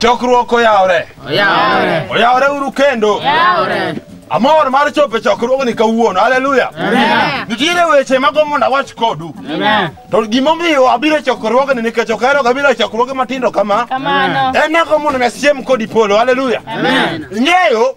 Chokruok oyawre. Oyawre. Oyawre uru kendo. Oyawre. Amor mar chopo e chokruogni kawuono. Haleluya. Amen. Nitiere weche mago mondo awach kodu. Amen. To gimomiyo abiro e chokruogni nikech ok ahero gabiro e chokruoge matindo kama. Kamano. En nago mondo nasiem kodi polo. Haleluya. Amen. Ing'eyo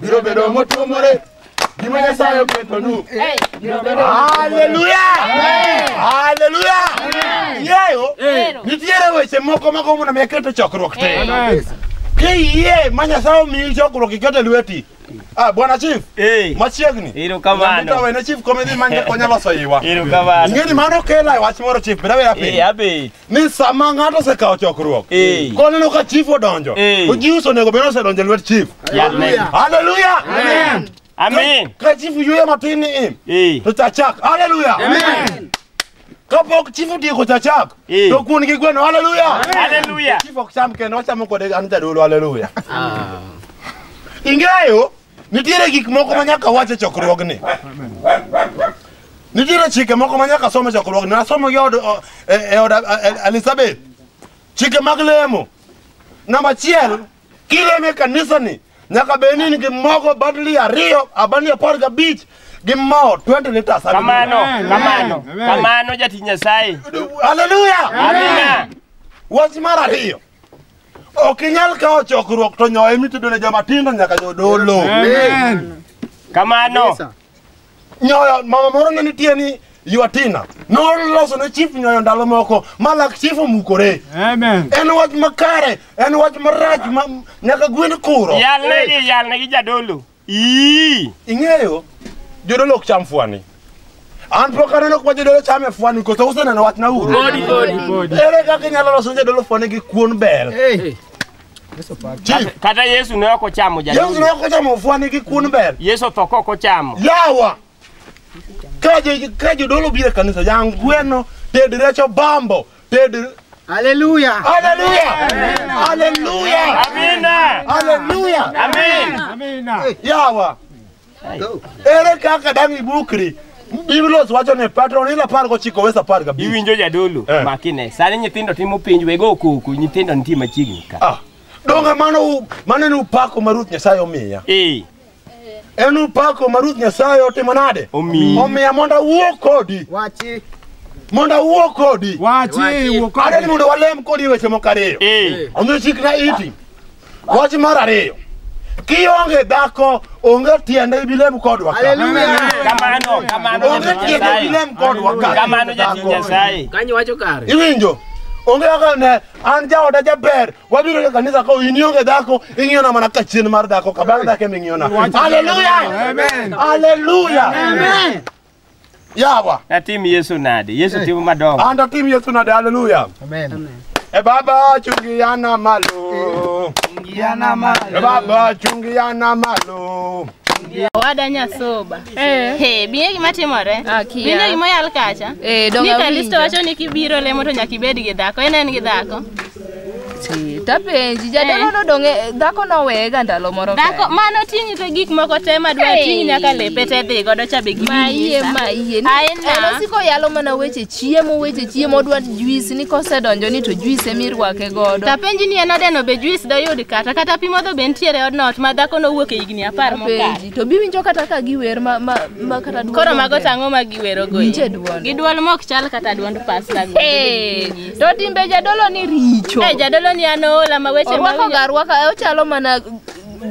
biro bedo motuomore gima nyasaye oketonu biro bedo Haleluya! Haleluya! Yeyo, nitiere weche moko ma gombo na mi aketo chokruok te. Kiyie ma Nyasaye omiyi chokruok iketo e lweti. Ah, Bwana Chief, Eh, machiegni. Erokamano. Nyamita wene Chief komedhi manje konya loso iwa. erokamano. Ing'eni mano kela e wach moro Chief, bira bira Eh, piny. abe. ni sama ng'ato osekawo chokruok Eh. koneno ka chief odonjo Eh. ojius onego bed osedonjo e lwet chief Amen. haleluya Amen. ka chief yueyo matin ni im Eh. to chachak haleluya kapok chief otieko chachak Eh. to kuon gi gweno haleluya Hallelujah. chief ok cham kendo ochamo kode an jadolo haleluya ing'eyo Nitiere gik moko ma nyaka wach e chokruogni. Nitiere chike moko ma nyaka som e chokruogni. Nasomo gi od o- e e od a- e- Elizabeth. Chike mag lemo. Namba achiel, kilemo e kanisani nyaka bed ni in gi mogo badli ariyo, abani apar gabich gi mo 20 liters. Kamano, kamano, kamano jatich Nyasaye. Haleluya! Amina. Wach mar ariyo. Ok inyal kawo chokruok to nyoyo ema itedo ne joma tindo nyaka jodolo. Kamano. Nyoyo mama moro ne nitie ni Yuatina noloso ne chief nyoyo ndalo moko ma lak chief omukore. Amen. En wach makare, en wach marach ma nyaka gwen kuro. Yalnegi, yalnegi jadolo. Ii! Ing'eyo jodolo ok cham fwani. An pok aneno kuma jodolo chame fwani koso useneno wachna uru. Body, body, body. Ere kaka inyalo loso jodolo fwani gi kuon bel? Hey. Chief, Kata Yesu ne ok ochamo Yesu jadolo. ne ok ochamo fwani gi kuon bel. Yesu otho ka ok ochamo. Yawa! Ka jo- ka jodolo biro e kanisa, jangweno, ted rech obambo, Pedro. Aleluia! Aleluia! Aleluia! Amina! Aleluia! Amina! Yawa. Ere kaka dang' ibukri? Biblos wacho ni patron ila par gochiko wes apar gabich. Iwinjo jadolo Eh. makine. Sani nyithindo timo penj wego okuku nyithindo nitie machiegni ka. Ah. Donge mano u- mano en upako ma Ruoth Nyasaye omiya. Eh. En upako ma Ruoth Nyasaye otimo nade? Omiyi. Omiya mondo awuo kodi. Wachi. Mondo awuo kodi. Wachi, Wachi. wuo kodi. Adwa ni mondo walem kodi e weche moko ariyo. Eh. Omiyo chikna iti. Wach mar ariyo. Kionge dhako, onge tiende ibilem kodwa ka. Hallelujah. Kamano, kamano Onge jatich tiende Nyasaye. ibilem kodwa ka. Kamano jatich Dhako. Nyasaye. Kanyo wacho kare. Iwinjo? Onge kaka ne an jaoda jaber Wabiro e kanisa ka in ionge dhako, ing'iyo na mana ka chien mar dhako, ka bang' dhako eming'iyo na. Haleluya! Amen. Haleluya! Amen. Yawa. Natim Yesu nade? Yesu timo madongo. An to tim Yesu nade, haleluya. Amen. E baba chungi yana malo. Yana malo. E baba chungi yana malo. Owada nyasoba. Eh. He, biye gima timore. Ah, kia. Winjo gima oyal kacha. Eh, donge Ni Kalisto awinjo. wacho ni kibiro lemo to nyaka ibed gi dhako. En en gi dhako. Ti, Tapenji, jadolo nodong' e- dhako noweyega ndalo moro Dhako kae. mano ting'i to gik moko te ma dwa ting'i nyaka lepe te dhi godo cha be gini. Mayie, mayie. Ni- Aina. En osiko yalo mana weche chiemo, weche chiemo, odwa juice ni kosedonjo ni to juice ema irwake godo. Tapenji ni en odeno be juice doyud kata kata pi modho be nitiere e odno ot ma dhako nowuok e higni apar mokalo. Tapenji, to biwinjo kata ka giwer ma, ma, ma kata dwol Koro mago onge. tang'o ma giwerogo. Winje dwol. Gi dwol mok chal kata dwond pasta. Hey, To timbe jadolo ni richo. Eh, jadolo ni an oola ma weche ma Orwako ga rwaka, e, ochalo mana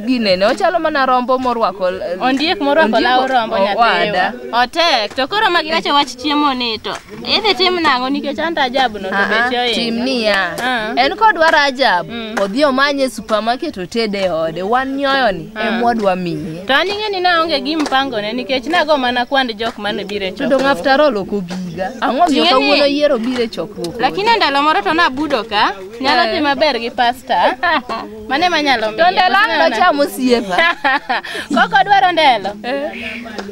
ginene, ochalo mana rombo morwako. eh, Ondiek morwako ondiek- law rombo o- nyathiwa. owada. Otek. To koro ma giwacho wach chiemo ni to idhi tim nang'o nikech an to ajabu no to Ah, beche ah, oinga. Tim niya. Ah. En kodwa Rajab, Mm. odhi omanye e supermarket otede e ode. Wan nyoyoni. e mwadwa miye. To an ing'e ni naonge gi mpango ne nikech nago mana kwand jok mane biro e chokruok. To dong' after all ok obiga. Ang'o miyo kawuono yiero biro e chokruok? Lakini ndalo moro to nabudo ka. Nyalo eh. dhi maber gi pasta. Mane manyalo miyo. To ndalo ang' nocham osiepa. Koko dwaro ndelo. Eh.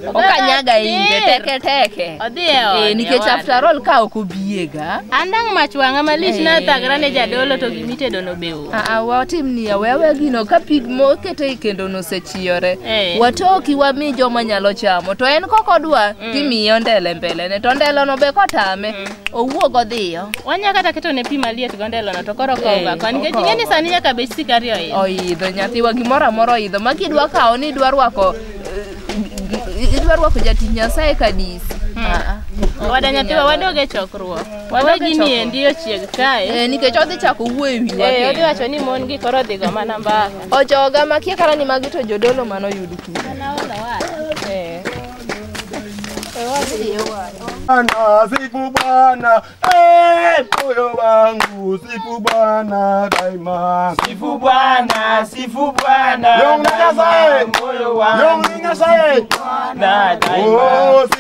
Okanyaga inge teke teke. Odhi e ot. Eh, nikech after all ka ok obiega. Andang' mach wang'a malich nathagra ne jadolo to gimitedo nobew. Aa, watim niya wewe gino ka pig mokete e kendo nosechiyore Eh. watoki wami joma nyalo chamo to en kok odwa timiye ondele mbelene to ndelono be kotame owuog odhiyo Wanya kata keto ne pi maliet gondelono to koro Eh, kowga kwa nikech okowa. ing'e ni sani nyaka bech sikari oil. oidho nyathiwa gimoro amora oidho ma kidwa kawo ni idwa rwako eh, idwa rwako jatich nyasaye kadisi Aa, ok Wada nyathiwa inyal. wadoge chokruok. Wadwa gini endi ochieg kae. Eh, nikech odhi chako wuoyo e wi wa. Eh, odhi wacho ni mon gi koro odhi go mana mbaka. Ojoga ma kia kara ni magi to jodolo mano yudu ki. Ana ona wa. Eh. Bwana, sifu Bwana, eh, moyo wangu sifu Bwana daima. Sifu Bwana, sifu Bwana. Yong Nyasaye, moyo wangu. Yong Nyasaye, Bwana daima. Oh,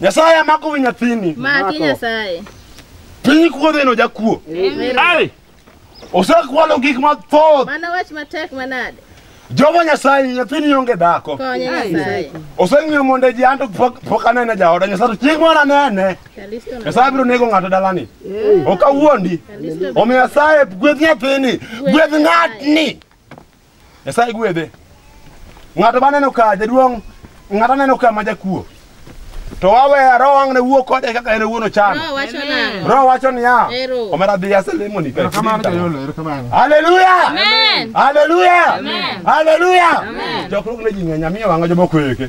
Nyasaye amako wi nyathini. Maki Nyasaye. Piny kuodheno jakuo. Amen. Ai! Osekwalo gik mathoth. Mano wach matek manade. Jehova Nyasaye nyathini onge dhako. Konye Nyasaye. Oseng'iyo mondo ji anto pok pok anene jaoda Nyasaye to chieng' moro anene. Kalisto na. Nyasaye biro nego ng'ato dalani. Ok awuondi. Kalisto. Omiyo Nyasaye gwedh nyathini, gwedh ng'atni. Nyasaye gwedhe. Ng'ato maneno ka jaduong' ng'ato aneno ka ma jakuo. To wawe roho ang' ne wuo kode kaka en owuon ochan. Roho wacho nang'o? Roho wacho niya, Ero. omera dhi aselemo ni Ero kamano jayolo, ero kamano. Haleluya! Amen. Haleluya! Amen. Haleluya! Amen. Jokruok ne ji ng'eny amiyo wang'a jomoko eke.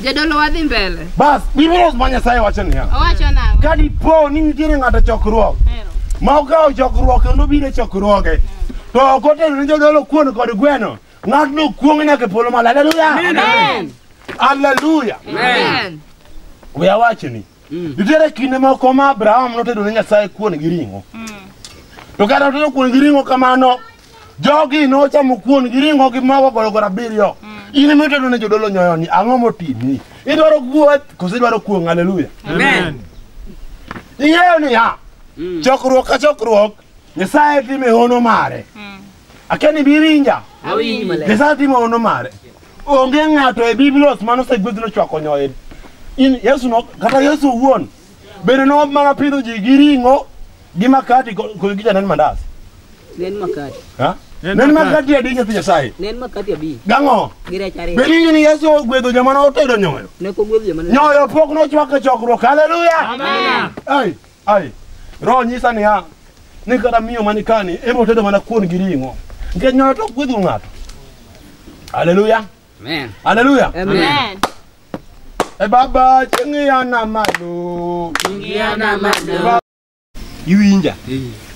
Jadolo wadhi mbele. Bas, Biblia ma Nyasaye wacho niya, Owacho nang'o? ka dipo ni nitiere ng'ato e chokruok Hero. ma okawo chokruok kendo obiro e chokruoge to ok otero ne jodolo kuon kod gweno, ng'atno okuong' nyaka e polo malo. Haleluya! Amen. Haleluya! Amen. We awachni, nitiere kinde moko ma Abraham notedo ne Nyasaye kuon gi ring'o. To kata otedo kuon gi ring'o kamano, Jogi nochamo kuon gi ring'o gi mogo gorogoro abiriyo. In ema itedo ne jodolo nyoyoni, ang'o motimi? Idwaro guoth koso idwaro kuong'? Haleluya. Amen. Ing'eyo niya, chokruok ka chokruok, Nyasaye time hono mare. Akia ni biwinja? Awinji maler. Nyasaye timo hono mare. Onge ng'ato e Biblos mane osegwedh nochwako nyoyo. In Yesu no, kata Yesu owuon Bende no mana pidho ji gi ring'o gi makati ko- kod gi janen mandas. Ne en makati. Ha? Nen Nen makati. makati adi nyathi Nyasaye. Ne en makati abich. Gang'o? Gi rech ariyo. Be ninyi ni Yesu ogwedho joma no otedo nyoyo? Ne ok ogwedh joma ne- Nyoyo pok nochwak e chokruok. Haleluya! Ai, ai. Roho nyisa niya, ni kata miyo mani kani ema otedo mana kuon gi ring'o. Nikech nyoyo to ok gwedho ng'ato. Haleluya! Amen. Haleluya. Amen. E baba chingia na malo. Ingia na malo. Iwinja.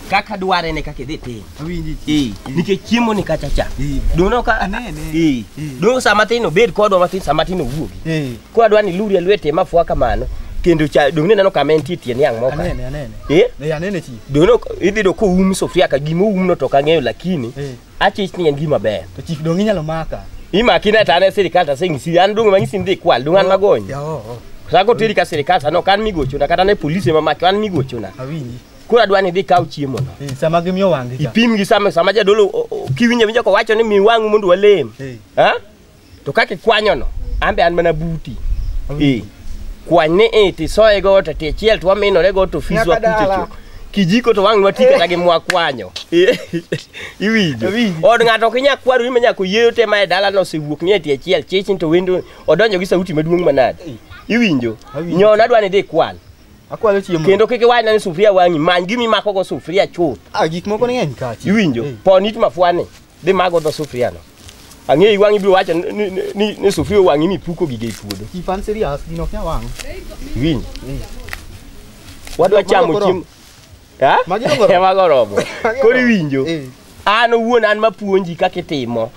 Kaka dware ne kaka idhi tim. Awinji. Eh, nikech chiemo ni kacha cha. Dono ka Ane, ane. Eh. Dono sama tin obed kodwa matin sama tin owuogi. Eh. Kwa dwani luri lwete mafua kamano kendo cha donge neno kama entie tiend yang moka. Anene anene. Eh? Eh anene chi. Dono idhi do ko um sofia ka gimo umno to kang'eyo lakini Eh. Achich ni en gima ber. To chik dong inyalo maka. Imaki na tane sirikal ta singisi an dong mangisi ndi kwal dong an magony. Ya o. Sako tiri ka sirikal sa no kan migocho na kata ne polisi ma maki an migocho na. Awinji. Kura dwa ni dhi kaw chiemo no. Eh, sama gimiyo wangi cha. Ipim gi sama sama jadolo o- o- kiwinjo winjo ko wacho ni mi wangu mondo walem. Eh. Ha? to kaka ikwanyono an be an mana buti ee kwany ni i tisoye go to tichiel to waminore go to fis Nyaka wakuche dala. chuth kijiko to wang' wati kata gi mwakwanyo Ee, iwinjo Awinjo. od ng'ato ok inyal kwaru ni ma nyaka oyieyo te ma e dalano osewuok ni e tie chiel chichin to wendo odonjo gi sauti maduong' manade iwinjo Awinjo. nyon adwa ni dhi kwal Akwalo chiemo. kendo kik iwachna ni sufuria wang'i many gima imakogo sufuria chuth Ah, gik moko ni ng'eny kachi. iwinjo Eh. pon it mafwani Dhi mago dho sufriano. Ang'eyi wang'i biro wacho ni- ni- ni- ni ni sufria owang'i mipuko gige e puodho. Chi fan serious gino ok nyal wang'. Winj. Wadwa Mago chamo koro. chiemo. Ha? Magi dong'o romo. Mago romo. Koro iwinjo. Eh. an owuon an mapuonji kaka itimo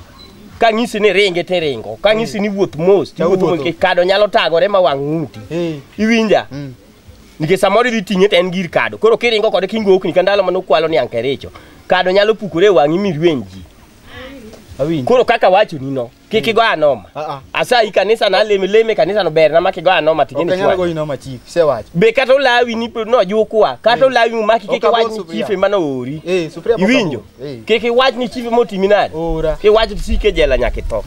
kang'isi ni ringe to iringo kang'isi ni wuoth mos to iwuotho mos Tawuotho. nikech kado nyalo tagore ma wang' ng'uti Eh. iwinja Mm. nikech samoro idhi ting'e to en gir kado koro kiringo kode kingo okni ka ndalo mane ukwalo ni ankericho kado nyalo pukore e wang'i mirweny ji Awinji. koro kaka wachoni no kik igo anoma Ah, ah. asayi kanisa na leme leme kanisa no ber na ma kigo anoma Ok anyal ting'eni goyi noma chief, isewacho. be kata olawi ni nojukwa kata olawi umaki kik Ok abor iwach ni sufuria. chife mano ori Eh, sufuria pok iwinjo Kik iwach ni chief motimi nade. Ora. Kik iwach sike jela nyaka itho.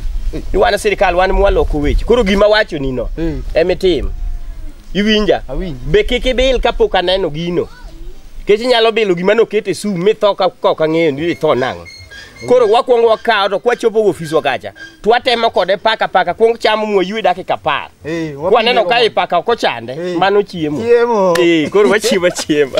Ni wan sirkal wan mwaloko weche. Koro gima wacho ni no. Emitim. Iwinja? Awinji. Be kik ibil kapok aneno gino. Kech inyalo bilo gima noket e sum mitho ka kok ang'eyo ni itho nang'o. Koro wakwongo wakawo to kwachopo ofiswa kacha. twatemo kode paka paka kuong chamo mwaywe dakika apar Eh, wapi kwaneno nyiero ka mondo- ipaka ok ochande Eh. mano chiemo Chiemo. Eh, koro wachiemo achiema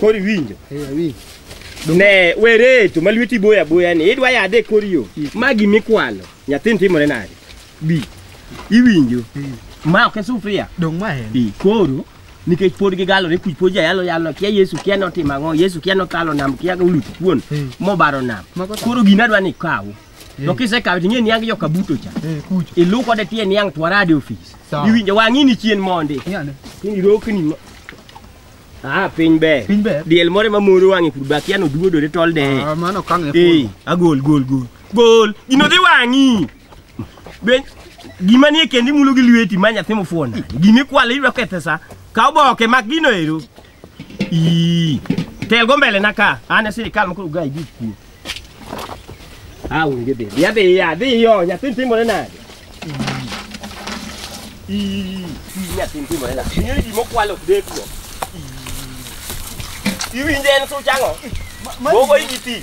Koro iwinjo? Eh, awinjo. Ne wereto ma lweti boyo aboya ni idwa yadhe e kor yo. Ma gimikwalo. Nyathini timore nade? Bi. Iwinjo? Ma ok e sufria. Dong' ma en. Bi. Koro nikech pod gigalore kuch pod jayalo yalo kia Yesu kia notimo ang'o Yesu kia nokalo nam kia oluto kuon Mm. mobaro nam Mago ta- koro gina dwa ni kaw to kisekawe to ing'e niang joka buto cha Eh, kuch. ilu kode tie niang twarade ofis Sawa. iwinjo wang'i ni chien mondi Ng'ane. kini rokni ma- ah piny ber Piny ber. diel moro ma moro wang'e kudu bakia noduodore tolde Ah, mano kang'e eh agol gol gol gol gino dhi wang'i Be gima nie kendi imulo gi lweti ma nyathi mofuwo nade? Gima ikwalo iyudo kethe sa. Ka oboke mak gino ero. Ii. Tel go mbele na ka. An e sirikal mokoro ga idi kuo. Ah, unge be. Ya be ya, be yo, nyathi timore nade? Ii. Ii, nyathi timore nade? Ng'eyo gima okwalo ok dek go. Ii. Iwinje en such ang'o? Gogo igi ti.